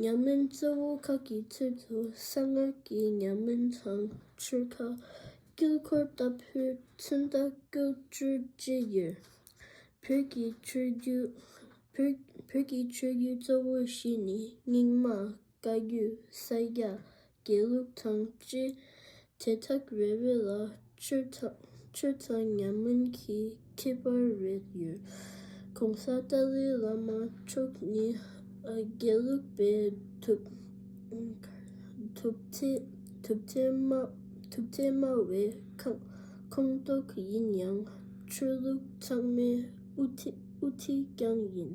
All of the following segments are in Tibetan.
ཉམས་སྨིན་གཙོ་བོ་ཁག་གི་ཚུལ་དུ་གསང་སྔགས་ཀྱི་ཉམས་སྨིན་དང་ཆོས་ཁ། དཀྱིལ་འཁོར་ལྟ་བུའི་མཚོན་རྟགས་སྐུ་སྤྲུལ་ཅི་ཡོད། བོད་ཀྱི་ཆོས་བརྒྱུད་གཙོ་བོ་བཞི་ནི་རྙིང་མ་བཀའ་བརྒྱུད་ས་ཡ་དགེ་ལུགས་དང་བཅས་དེ་དག་རེ་རེ་ལ་ཆོས་ཚང་ཉམས་སྨོན་གྱི་ཁྱད་པར་རེ་ཡོད། གོང་ས་ཏཱ་ལའི་བླ་མ་མཆོག་ནི་དགེ་ལུགས་པའི་ཐུབ་ཚད་དམའ་བའི་ཁོངས་གཏོགས་ཡིན་ཡང་ཆོས་ལུགས་ཚང་མའི་དབུ་ཐིག་ཀྱང་ཡིན།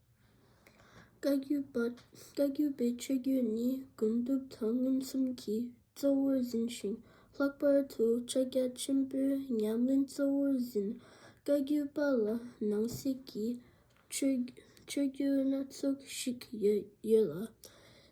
བཀའ་བརྒྱུད་པ་བཀའ་བརྒྱུད་པའི་ཆོས་བརྒྱུད་ནི་དགོན་སྡེ་དང་མངོན་སུམ་གྱིས་གཙོ་བོར་འཛིན་ཞིང་ལྷག་པར་དུ་ཕྱག་རྒྱ་ཆེན་པོའི་ཉམས་ལེན་གཙོ་བོར་འཛིན། བཀའ་བརྒྱུད་པ་ལ་ནང་གསེས་ཀྱི་ཆོས་བརྒྱུད་སྣ་ཚོགས་ཤིག་ཡོད་ལ།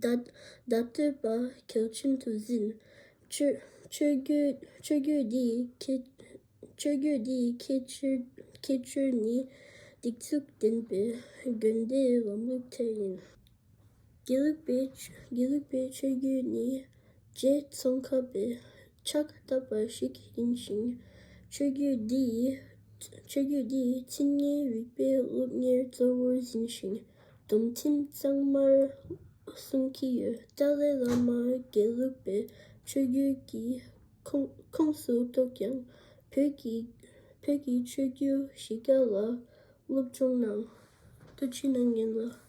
བདག་བསྟོད་པ་གྱང་ཁྱིམ་དུ་བཟིན། ཆོས་བརྒྱུད་འདི་ཡི་ཁྱད་ཆོས་ནི། སྡིགས་མཛུབ་བསྟན་པའི་དགོན་སྡེ་ལམ་ལུགས་དེ་ཡིན། དགེ་ལུགས་པའི་ཆོས་བརྒྱུད་ནི། རྗེ་ཙོང་ཁ་པའི་ཕྱག་བཀའ་བཏབ་པ་ཞིག་ཡིན་ཞིང། ཆོས་བརྒྱུད་འདི་ཡི་ཚིག་སྙན་རིག་པའི་སློབ་གཉེར་གཙོ་བོར་འཛིན་ཞིང། སྡོམ་ཁྲིམས་གཙང་མར་བསྲུང་གི་ཡོད་ཀྲའུ་ཙེ་བླ་མ་དགེ་ལུགས་པའི་ཆོས་བརྒྱུད་ཀྱི་ཁོངས་སུ་གཏོགས་ཀྱང་བོད་ཀྱི་ཆོས་བརྒྱུད་གཞི་རྒྱ་ལ་སློབ་སྦྱོང་གནང། ལྟོ་ཆུའི་ནང་ཉིན་ལ